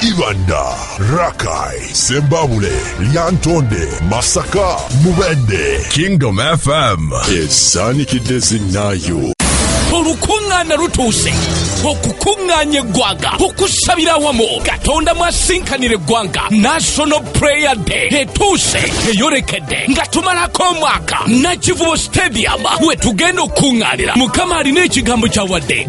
Ibanda, Rakai, Sembabule, Lyantonde, Masaka, Mubende. Kingdom FM is Sunny Kidezinayo. olukuŋŋaana lutuuse okukuŋŋaanya eggwanga okusabira awamu katonda mwasinkanira eggwanga national prayer day etuuse eyolekedde nga tumalako omwaka nakivubo stadium we tugenda okukuŋŋaanira mukama alina ekigambo kyawadde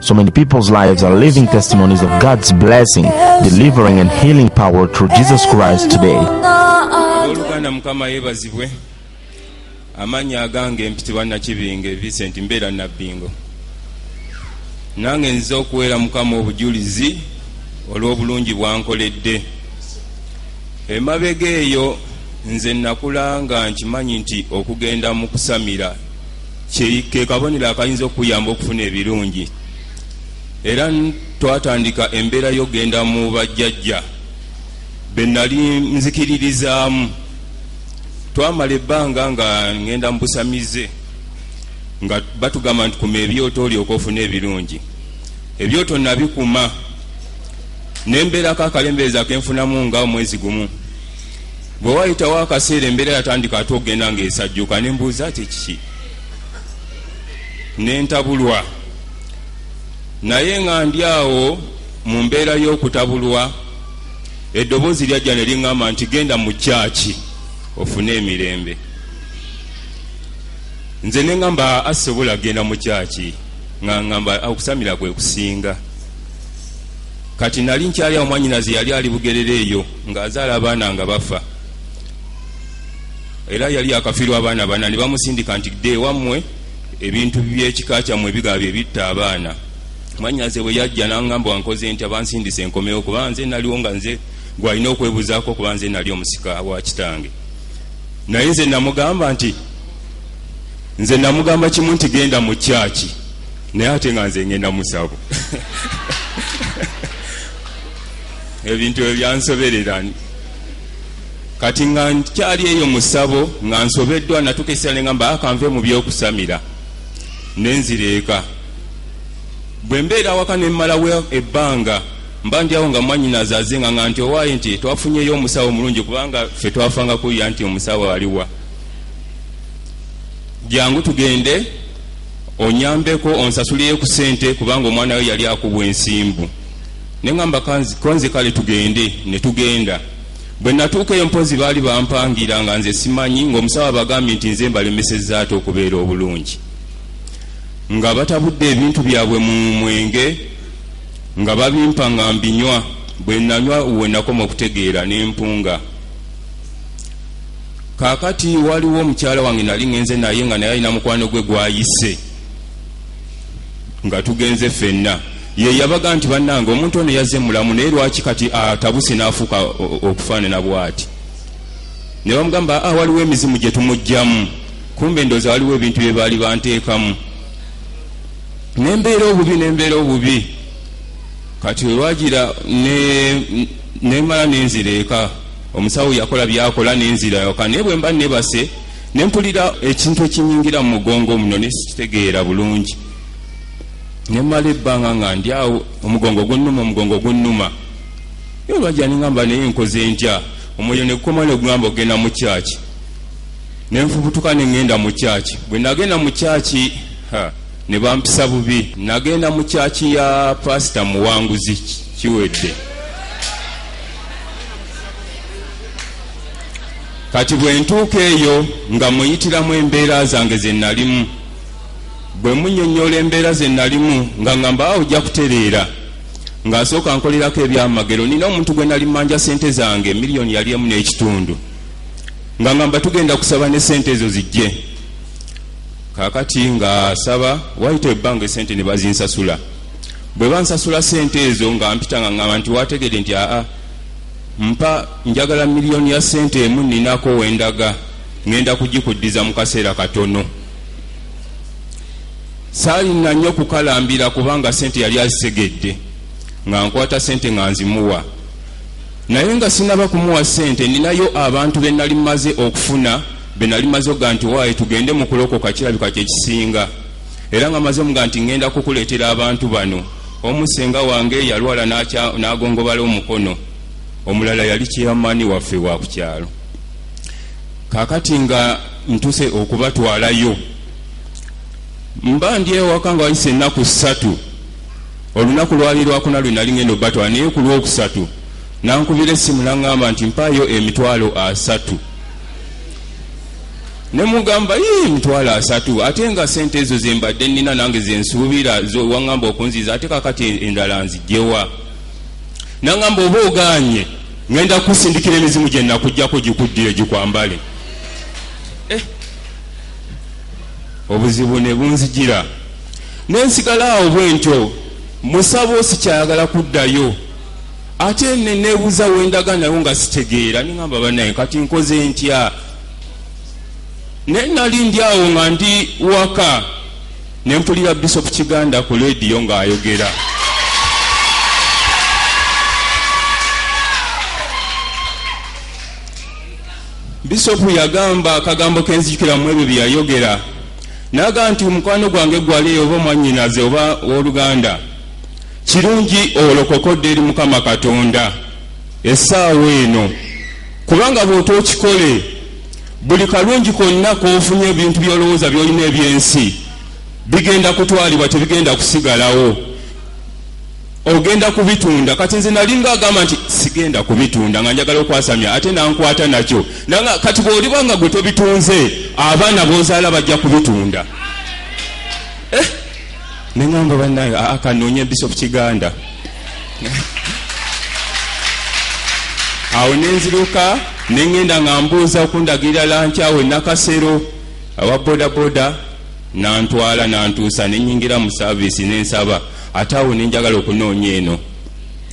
So many people's lives are living testimonies of God's blessing, delivering and healing power through Jesus Christ today. oluganda mukama yebazibwe amanya agange mpitibwa nakibinge vincent mbeera nabbingo nange nziza okuweera mukama obujulizi olw'obulungi bwankoledde emabega eyo nze nakula nga nkimanyi nti okugenda mu kusamira ke kabonero akayinza okukuyamba okufuna ebirungi era twatandika embeera yokugenda mu bajjajja be nali nzikiririzaamu twamala ebbanga nga ngenda mu busamize nga batugamba nti kuma ebyoto olyoka ofuna ebirungi ebyoto nabikuma nembeerako akalembeeza kenfunamu nga omwezi gumu Bwe waayitawo akaseera embeera yatandika ate okugenda ng'esajjuka ne mbuuza ati kiki ne ntabulwa naye nga ndi awo mu mbeera y'okutabulwa eddoboozi lyajja ne liŋŋamba nti genda mu kyaki ofune emirembe nze ne ŋŋamba asobola kugenda mu kyaki nga ŋŋamba okusamira kwe kusinga kati nali nkyali awo mwanyinaze yali ali bugerere eyo ng'azaala abaana nga bafa era yali akafiirwa abaana bana ne bamusindika nti dda ewammwe ebintu byekika kyammwe ebigaa bye bitta abaana mwanyaze bwe yajja nangamba wankoze nti abansindisa enkomewo kuba nze naliwo nga nze gwalina okwebuzaako kuba nze nali omusika wa kitange naye nze namugamba nti nze namugamba kimu nti genda mu kyaki naye ate nga nze ngenda musabo ebintu ebyansoberera kati nga nkyali eyo musabo nga nsobeddwa natuka esira nengamba akanve ah, mu byokusamira nenzira eka bwe mbeera awaka nemmalawo ebbanga mba ndi awo nga mwanyinazi azinga nga nti owaaye nti twafunyeyo omusawo omulungi kubanga ffe twafanga kuya nti omusawo aliwa jangu tugende onyambeko onsasuliyo ku sente kubanga omwana we yali akubwa ensimbu ne ŋŋamba konze kale tugende ne tugenda bwe natuuka eyo mpozi baali bampangira nga nze simanyi ng'omusawo abagambye nti nze mbalemesezza ate okubeera obulungi nga batabudde ebintu byabwe mu mwenge nga babimpa nga mbinywa bwe nanywa we nakoma okutegeera ne mpunga kaakati waliwo omukyala wange nali ŋenze naye nga naye alina mukwano gwe gwayise nga tugenze ffenna ye yabaga nti bannange omuntu ono yazze mulamu naye lwaki kati atabuse n'afuuka okufaanana bw'ati ne bamugamba a ah, waliwo emizimu gye tumugjamu kumbe ndooza waliwo ebintu bye baali banteekamu nembeera obubi nembeera obubi kati olwagira nemala nenzira eka omusawo yakola byakola nenzira yoka naye bwemba nebase nempulira ekintu ekinyingira mu mugongo muno nesikitegeera bulungi ne mmala ebbanga nga ndi awo omugongo gunnuma omugongo gunnuma ye olwajja nengamba naye nkoze ntya omwoyo ne gukoma ne gugamba okugenda mu kyaki ne nfubutuka ne ŋŋenda mu kyaki bwe nagenda mu kyaki ne bampisa bubi nagenda mu kyaki ya pasita muwanguzi kiwedde kati bwe ntuuka eyo nga muyitiramu embeera zange ze nalimu Bwe munnyonnyola embeera ze nalimu nga ngamba awo ojja kutereera nga nsooka nkolerako ebyamagero nina omuntu gwe nali manja sente zange miliyoni yali emu n'ekitundu nga ngamba tugenda kusaba ne sente ezo zijje kakati nga saba wayita ebbanga esente ne bazinsasula bwe bansasula sente ezo nga mpita nga ngamba nti wategede nti aa mpa njagala miliyoni ya sente emu ninako wendaga ngenda kugikuddiza mu kaseera katono saalina nnyo kukalambira kubanga sente yali azisegedde nga nkwata sente nga nzimuwa naye nga sinaba kumuwa sente ninayo abantu benali maze okufuna benali maze okuga nti waaye tugende mu kulokoka kirabika kyekisinga era nga maze omuga nti ŋŋenda kukuleetera abantu bano omu senga wange yalwala n'agongobala omukono omulala yali kyeyamaani waffe wa ku kyalo kakati nga ntuse okubatwalayo mba ndi ewaka nga wayise ennaku ssatu olunaku lwali lwakuna lwe nali ngenda obatwala naye ku lwokusatu nankubira essimu naŋŋamba nti mpaayo emitwalo asatu ne mugamba ye emitwalo asatu ate nga sente ezo zembadde nina nange zensuubira waŋŋamba okunziza ate kakati endala nzijewa naŋŋamba oba oganye Ngenda kukusindikira emizimu gye nakujjako gikuddiyo gikwambale. Eh. Obuzibu ne bunzijira ne nsigala awo bwe ntyo musabo sikyayagala kuddayo ate ne neebuuza we ndaga nayo nga sitegeera ne ngamba banaye kati nkoze ntya naye nali ndi awo nga ndi waka Ne mpulira Bishop Kiganda ku leediyo ng'ayogera. Bisopu yagamba akagambo ke nzijukira mu ebyo bye yayogera n'agamba nti omukwano gwange gwali oba mwannyinaze oba w'oluganda kirungi olokokodde eri mukama katonda essaawa eno kubanga bw'otookikole Buli kalungi konna k'ofunye, ebintu by'olowooza by'olina eby'ensi bigenda kutwalibwa, tebigenda kusigalawo. Ogenda kubitunda. Kati nze nalinga agamba nti sigenda kubitunda nga njagala okwasamya ate nankwata nakyo. Nanga kati bw'oliba nga gwe tobitunze, abaana b'ozaala bajja kubitunda. Eh? Ne ngamba bannaye, aa kanoonye Bishop Kiganda. awo nenziruka nengenda nga mbuuza okundagirira lanki awo enakasero awa bodaboda nantwala nantuusa nenyingira mu saavisi nensaba ate awo nenjagala okunoonya eno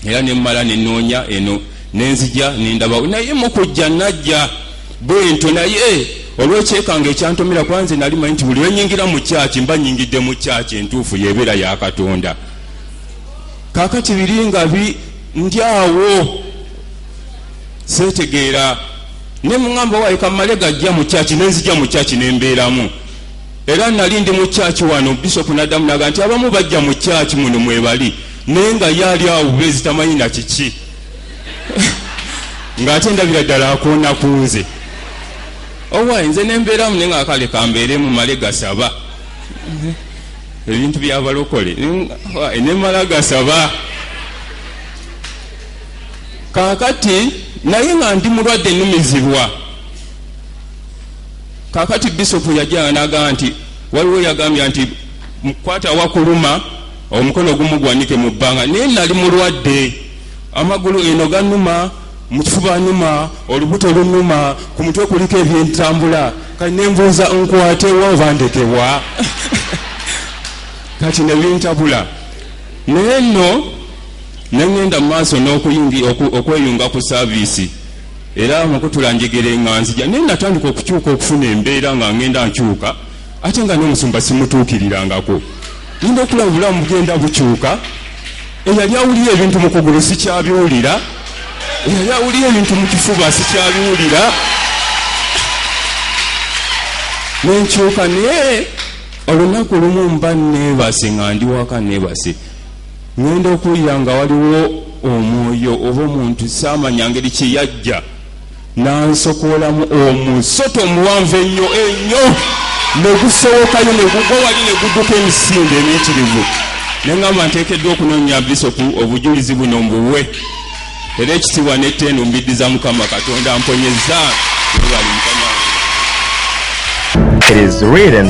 era nemumala nenoonya eno nenzija nendabawo naye mukujja najja bwento naye olwekyekanga ekyantomera kuba nze nali manyi nti buli lwenyingira mu kyaki mba nyingidde mu kyaki entuufu yebeera yakatonda kakati biri nga bi ndi awo setegeera ne muŋamba waye kamale gajja mu kyaki nenzija mu kyaki nembeeramu era nali ndi mu kyaki wano bisopu naddamu naga nti abamu bajja mu kyaki muno mwebali naye nga yaali awo bezitamanyi na kiki ng'ate ndabira ddala akoona ku nze owaye nze nembeeramu naye nga kale kambeeremu male gasaba ebintu byabalokole nemala gasaba kakati naye nga ndi mulwadde numizibwa kakati bisopu yajanga naga nti waliwo yagambya nti mukwata wakuluma omukono gumugwanike mu bbanga naye nali mulwadde amagulu eno ganuma mukifuba numa olubuto lunuma ku mutwe kuliko ebyentambula kati nembuuza nkwatewa oba ndekebwa kati nebintabula naye nno nengenda mu maaso n'okweyunga ku saaviisi era mukutula njegera enganzija naye natandika okukyuka okufuna embeera nga ngenda nkyuka ate nga n'omusumba simutuukirirangako ninda okulaba obulamu bugenda bukyuka eyali awulira ebintu mu kugulu sikyabiwulira eyali awulira ebintu mu kifuba sikyabiwulira nenkyuka naye olunaku lumu mba neebase nga ndi waka neebase ŋenda okuwulira nga waliwo omwoyo oba omuntu saamanya ngeri kyeyajja N'ansokoolamu omusota omuwanvu ennyo ennyo ne gusowokayo ne gugwa wali ne gudduka emisinde emiyitirivu. Ne ŋŋamba nteekeddwa okunoonya Bisopu obujulizi buno mbuwe era ekitiibwa n'ettendo mbiddiza Mukama Katonda amponyezza. Webale Mukama. It is written,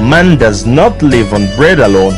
Man does not live on bread alone,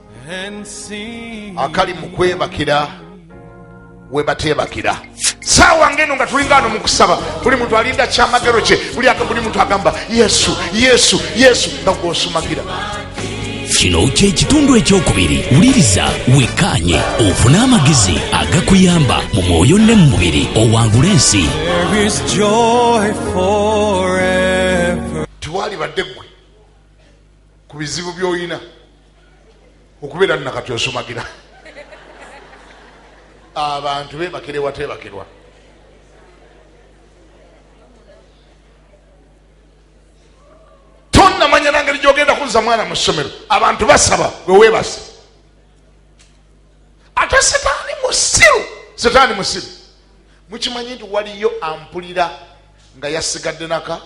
akali mu kwebakira we bateebakira saawa ngeno nga tulingaano mu kusaba buli muntu alinda kyamagero kye buli aka buli muntu agamba yesu yesu yesu nga gwosumagira kino kyekitundu ekyokubiri wuliriza wekkaanye ofune amagezi agakuyamba mu mwoyo ne mu mubiri owangula ensi tewalibadde ggwe ku bizibu by'olina okubeera nno kati osumagira abantu bebakire watebakirwa tonamanya nangeri gyogenda kuzza mwana mu ssomero abantu basaba wewebase ate setaani musiru setaani musiru mukimanyi nti waliyo ampulira nga yasigadde naka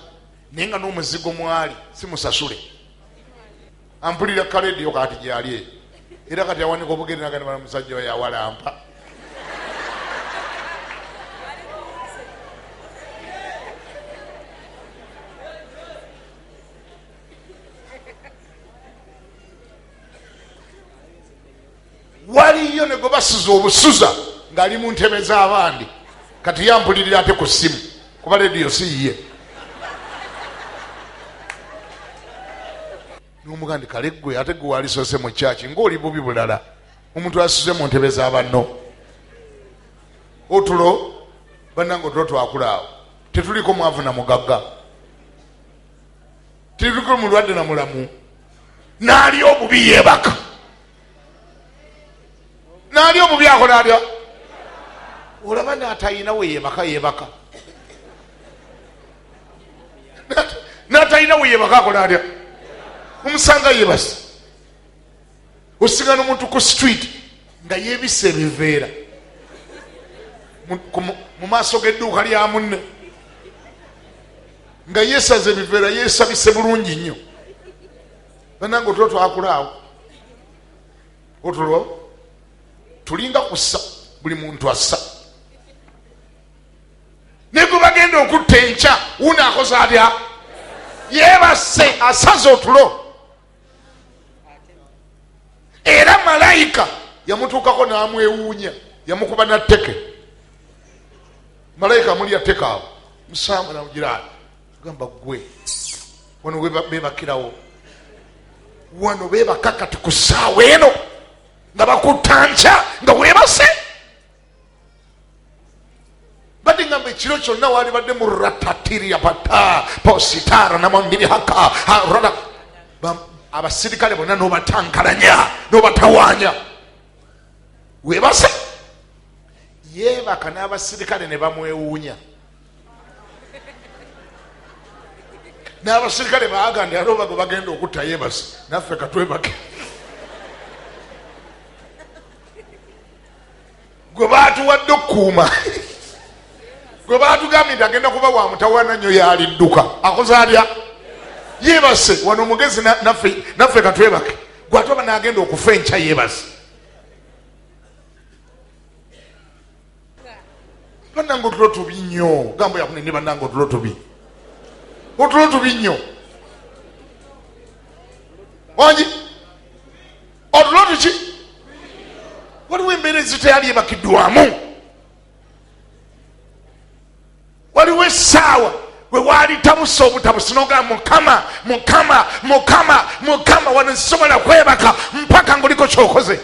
naye nga n'omuzigo mwali simusasule ampulira kaledio kati gyali eyo era kati awanika obugere nagani bana musajja oyo awalampa waliyo negwebasuza obusuza ngaali mu ntebe z'abandi kati yampulirira ate ku ssimu kuba lediyo siyiye nomuga ndi kale gwe ate gwe walisoose mu kyaki ngaoli bubi bulala omuntu asuze mu ntebe za banno otulo bannanga otulo twakula awo tetuliko mwavu na mugagga tetuliko mulwadde na mulamu naali obubi yeebaka naali omubi akola atya olaba natalina weyebaka yebaka natalina weyebaka akola atya omusanga yebasi osigana omuntu ku street nga yebisa ebiveera mu maaso g'edduuka lya munne nga yesaza ebiveera yesabise bulungi nnyo banange otulo twakulaawo otulo tulinga kussa buli muntu assa naye gwe bagenda okutta enkya wuuno akoze atya yebasse asaza otulo era malayika yamutuukako n'amwewuunya yamukuba natteke malayika amulya tekaabo musaambu namugiraani gamba gwe wano bebakirawo wano bebaka kati ku saawa eno nga bakutanca nga webase badde ngamba ekiro kyonna waali badde mu ratatiria bata positara namangirihaka rata abasirikale bonna nobatankalanya nobatawanya webase yebaka n'abasirikale ne bamwewuunya n'abasirikale baagandi ate obago bagenda okutta yebasi naffe katwebake gwe baatuwadde okukuuma gwe baatugambye nti agenda kuba wa mutawana nnyo yaalidduka akoze atya yebase wano omugezi naffe katwebake gwate oba naagenda okufa enkya yebase banange otulo tubi nnyo gambo yakunene banange otulo tubi otulo tubi nnyo wangi otulo tuki waliwo embeera eziteyali ebakiddwamu waliwo essaawa we waali tabusa obutabusi nogaa mukama mukama mukama mukama wano sisobola kwebaka mpaka ngaoliko kyokoze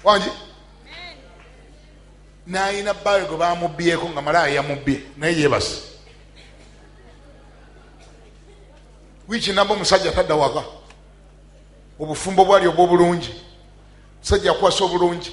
wangi nayina baawe gwe bamubbyeko nga malaaya yamubbye naye yebase wiiki namba omusajja tadda waka obufumbo bwali obwobulungi musajja akwasa obulungi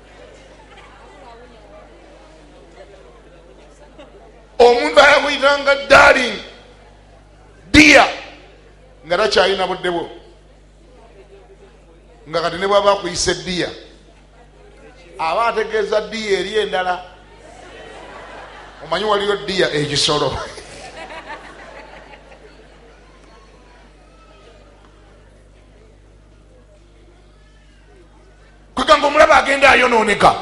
omuntu ayakuyitanga darling dia nga takyalina budde bwo nga kati ne bwaba akuyise dia aba ategeeza dia eri endala omanyi waliyo dia ekisolo kwegamba omulaba agenda ayonooneka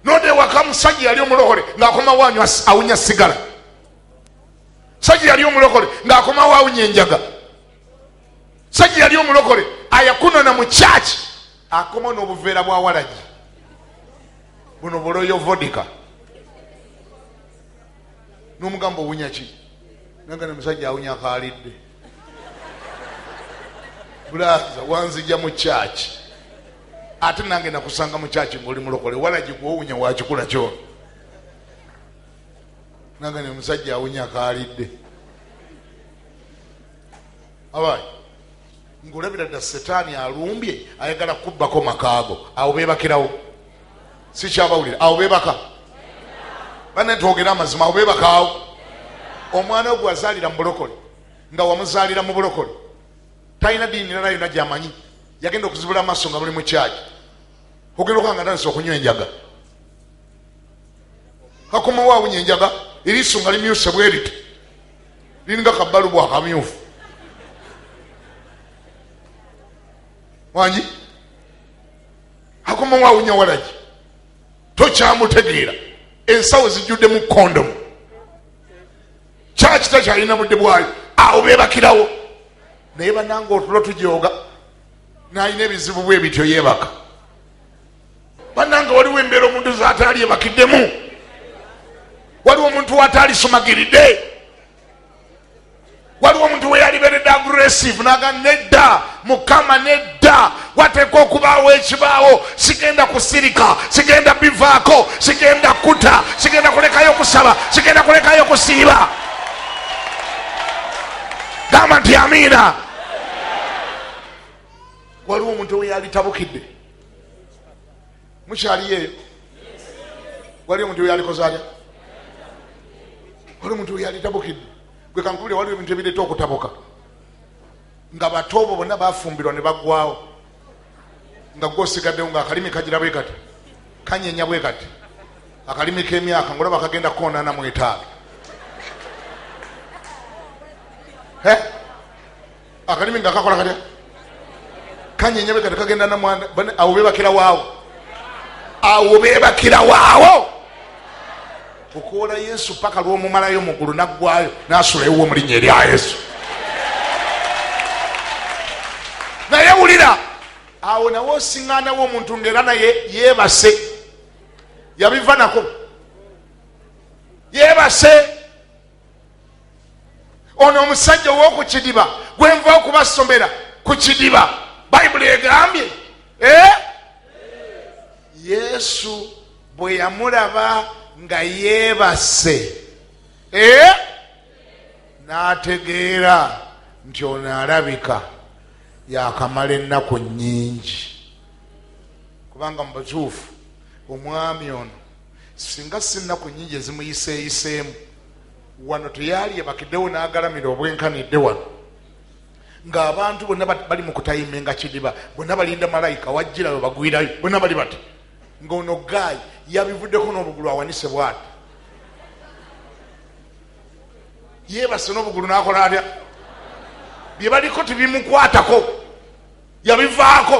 node waka musajja yali omulokole ng'akomawo awunya sigala sajja yali omulokole ng'akomawo awunya enjaga sajja yali omulokole ayakunona mu kyaki akomawo n'obuveera bwa walagi buno buloyo vodika n'omugamba owunya ki nanga ne musajja awunya kaalidde bulaza wanzija mu kyaki ate nange nakusanga mu kyaki ngaoli mulokole walagi gwowunya wakikula kyono nange ne musajja awunya kaalidde abayi ngaolabira dda setaani alumbye ayagala kubbako makaago awo bebakirawo sikyabawulira awo bebaka bane twogere amazima awo bebakaawo omwana ogwe azaalira mu bulokole nga wamuzaalira mu bulokole talina diini nala yona gyamanyi yagenda okuzibula amaaso nga muli mukyaki ogenda okanga tandisa okunywa enjaga kakomawo awunya enjaga eriiso nga limyuse bweriti liringa kabbalu bwakamyufu wangi akomawo awunya walagi tokyamutegeera ensawo zijjudde mu kondomu kyaki takyalina budde bwayo awo bebakirawo naye bananga otulo tujoga nalina ebizibu bwe bityo yebaka bananga waliwo embeera omuntu zataali ebakiddemu waliwo omuntu wataali sumagiridde waliwo omuntu weyaliberedde aggressive naga nedda mukama nedda wateekwa okubaawo ekibaawo sigenda kusirika sigenda bivaako sigenda kuta sigenda kulekayo kusaba sigenda kulekayo kusiiba gamba nti amiina waliwo omuntu weyalitabukidde mukyaliyo eyo wali omuntu oyalikoze atya wali omuntu oyalitabukidde gwe kankubire waliwo ebintu ebireeta okutabuka nga bato obo bonna bafumbirwa ne baggwawo nga gwe osigaddewo nga akalimi kagira bwe kati kanyenya bwe kati akalimi k'emyaka ngaolaba kagenda kukoonana mu etaalo akalimi nga kakola katya kanyenyabe kati kagenda namwanda awo bebakira waawo awo bebakira waawo okwola yesu paka lwomumalayo mugulu naggwayo nasula ewuwo mulinya erya yesu naye wulira awo nawe osiŋanawo omuntu ngaera naye yebase yabiva nako yebase ono omusajja owoku kidiba gwenva okubasomera ku kidiba bayibuli egambye eh? yesu bwe yamulaba nga yeebase eh? n'ategeera nti ono alabika yakamala ennaku nnyingi kubanga mu butuufu omwami ono Singa si nnaku nnyingi ezimuyiseeyiseemu, wano teyaalye bakidewo n'agalamira obwenkanidde wano ng'abantu bonna bali mu kutayimenga kidiba bonna balinda malayika wajjira we bagwirayo bonna bali bati ng'ono gaayi yabivuddeko n'obugulu awanise bwati yeebase n'obugulu n'akola atya bye baliko tebimukwatako yabivaako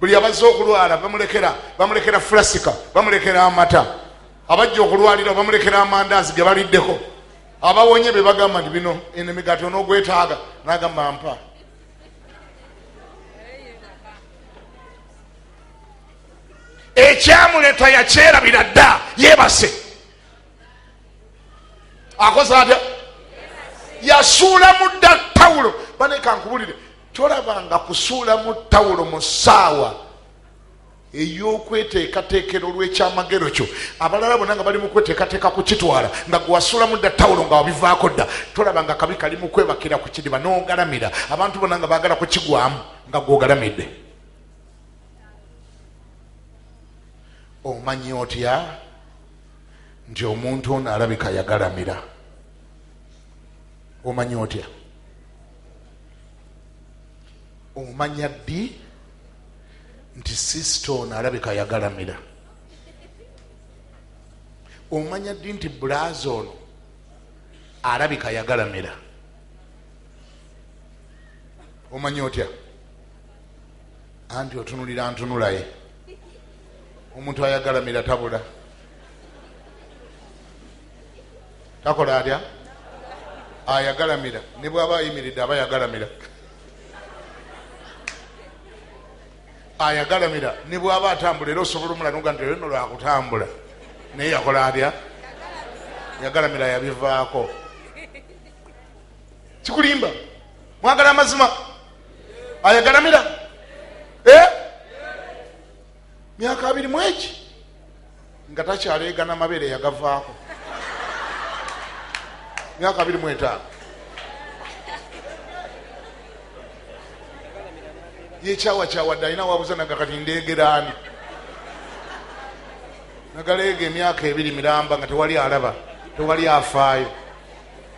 buli abazze okulwala bamulekera bamulekera fulasika bamulekera amata abajja okulwalira bamulekera amandaazi ge baliddeko abawonye be bagamba nti bino eno emigaati onogwetaaga nagamba mpa ekyamuleta yakyerabira dda yebase akoze atya yasuula mudda tawulo banekankubulire tolabanga kusuulamu tawulo mu ssaawa ey'okweteekateekera olw'ekyamagero kyo abalala bona nga bali mu kweteekateeka kukitwala nga gwewasuulamu dda tawulo nga wabivaako dda tolabanga kabi kali mu kwebakira ku kidiba n'ogalamira abantu bona nga baagala kukigwamu nga gwogalamidde omanyi otya nti omuntu ono alabika yagalamira omanyi otya omanya ddi nti sisita ono alabika yagalamira omanya ddi nti bulaza ono alabika yagalamira omanya otya anti otunulira ntunulaye omuntu ayagalamira tabula takola atya ayagalamira ne bwaba ayimiridde aba yagalamira ayagalamira ne bwaba atambula era osobola omulanoga nti olino lwakutambula naye yakola atya yagalamira yabivaako kikulimba mwagala amazima ayagalamira eh? myaka abiri mwegi nga takyaleegana mabeere yagavaako myaka abiri mwetaano yekyawakyawadde alina wabuza naga kati ndeegeraani nagaleega emyaka ebiri miramba nga tewali alaba tewali afaayo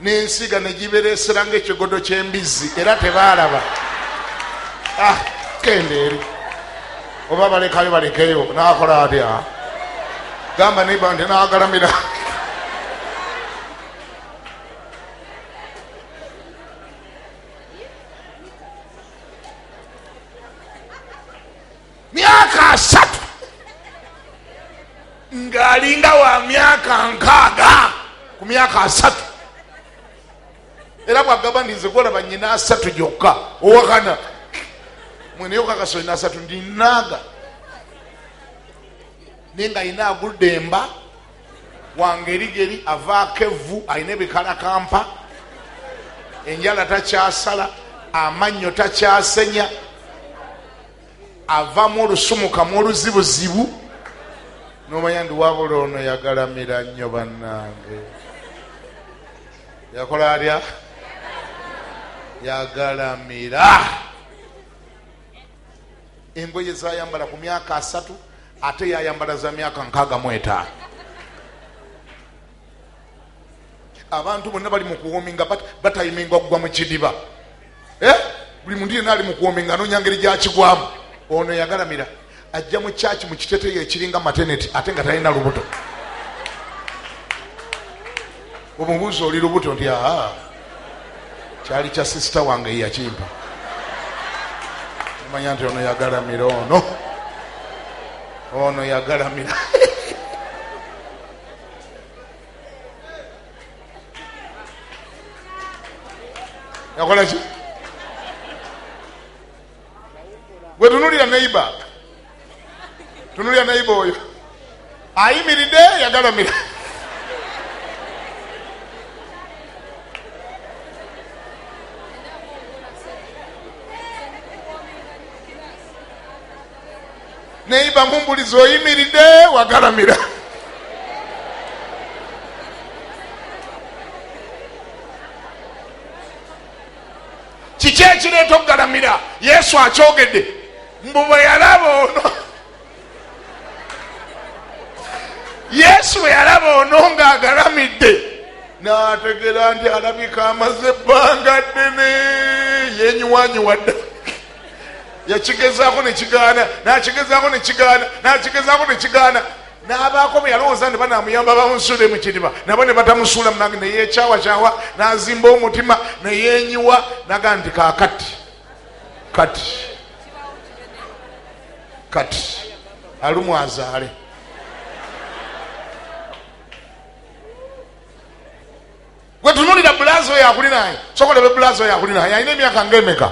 n'ensiga ne gibereesera ng'ekigodo ky'embizzi era tebaalaba ah, kenda eri oba balekayo balekeyo naakola atya gamba neba nti naagalamira myaka asatu ng'alinga wa myaka nkaaga ku myaka asatu era bwagamba nti nze gwolaba nyina asatu gyokka owakana mweneyokakasoli nasatu ndinaaga naye nga yina agudde emba wangerigeri avaako evvu alina ebikalakampa enjala takyasala amannyo takyasenya avamu olusumukamu oluzibuzibu nomanya ndi wabula ono yagalamira nnyo bannange yakola atya yagalamira engoye zayambala ku myaka asatu ate yayambala za myaka nkaaga mwetaano abantu bonna bali mukuwominga batayiminga okugwa mu kidiba eh? buli muntu yena ali mukuwominga anonya ngeri gyakigwamu ono yagalamira ajja mu kyaki mu kiteteyo ekiringa mateneti ate nga talina lubuto omubuuzi oli lubuto nti aa kyali kya sisita wange yakimpa omanya nti ono yagalamira ono ono yagalamira yakola ki gwe tunulira neiba tunulira neiba oyo ayimiridde yagalamira neyiba mumbulizi oyimiride wagalamira kiki ekireeta okugalamira yesu akyogedde mbu bwe yalaba ono yesu bwe yalaba ono ngaagalamidde nategera nti alabika amaze ebbanga ddene yenyiwanyiwadda yakigezaako ne kigaana n'akigezaako ne kigaana n'akigezaako ne kigaana n'abaako bwe yalowooza nti banaamuyamba bamusuule mu kidiba nabo ne batamusuula mu nange neyekyawakyawa n'azimba omutima neyenyiwa naga nti kakati kati kati alumu azaale Gwe tunulira bulaza oyo akuli naye. Sokola be bulaza oyo akuli naye. Alina emyaka ng'emeka.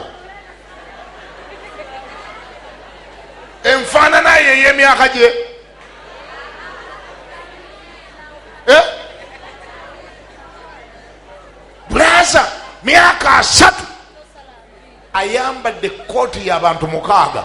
Enfaanana ye ey'emyaka gye. Eh? Bulaza myaka asatu. ayambadde kooti ya bantu mukaaga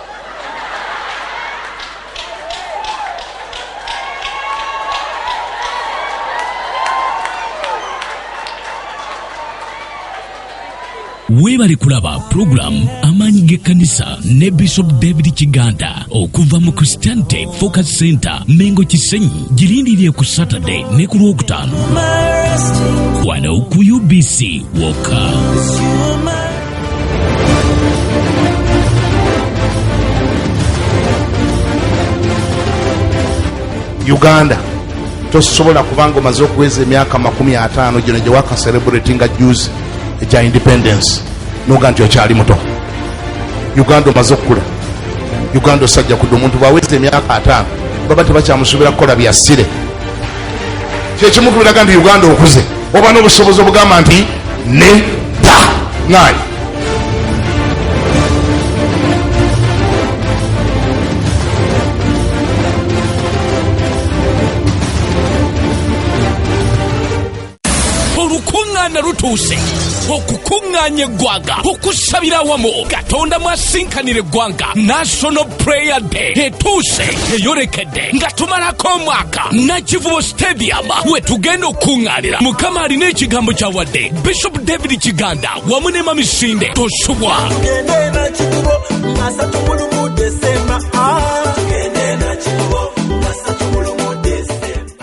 weebale kulaba pulogulaamu amaanyi g'ekkanisa ne bishop david kiganda okuva mu christianity focus center mengo kisenyi girindirire ku saturday ne ku lwokutaano wano ku ubc woka uganda tosobola kubanga omaze okuweza emyaka makumi ataano gino gyewaka celebrate nga juzi ekya independence noga nti okyali muto uganda omaze okukula uganda osajja kudde omuntu bwaweza emyaka ataano baba tebakyamusuubira kukola byasire kyekimu kubiraga nti uganda okuze oba n'obusobozi obugamba nti ne da ngaayi olukuŋŋaana lutuuse okukuŋŋaanya eggwanga okusabira awamu katonda mwasinkanira eggwanga national prayer day etuuse eyolekedde Day nga tumalako omwaka nakivubo stadium we tugenda okukuŋŋaanira mukama alina ekigambo kya wadde bishop david kiganda wamu ne mamisinde tosubwa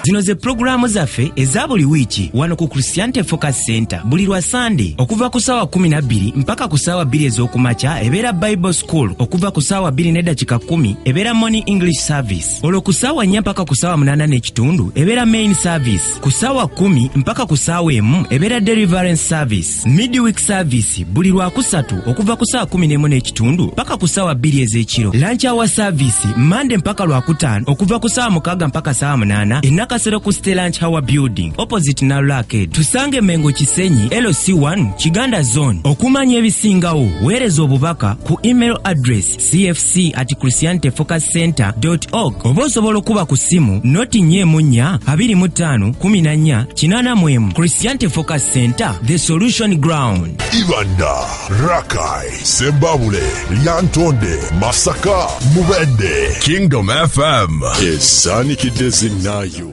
zino ze pulogulaamu zaffe eza buli wiiki wano ku christianity focus center buli lwa sande okuva ku saawa 12 mpaka ku saawa 2 ez'okumakya ebeera bible cool okuva ku saawa 2 ne dakika 1 ebeera morning english service olwo ku saawa 4 mpaka ku saawa 8 n'ekitundu ebeera main service ku saawa 1 mpaka ku saawa emu ebeera deliverance service midweek service buli lwakusatu okuva ku saawa 1 nemu n'ekitundu mpaka ku saawa 2 ez'ekiro lunch hour service mande mpaka lwakutaano okuva ku saawa mukaaga mpaka saawa 8 enakasero ku ste lunch hour building opposite nalula arcade tusange mengo kisenyi loc 1 Kiganda Zone. Okumanya ebisingawo, weereza obubaka ku email address cfc at christianityfocuscenter.org oba osobola okuba ku ssimu noti nya emu nnya abiri mu ttaano kumi na nnya kinaana mu emu. Christianity Focus Center, the solution ground. Ibanda, Rakai, Sembabule, Lyantonde, Masaka, Mubende. Kingdom FM. Esanikidde zinnayo.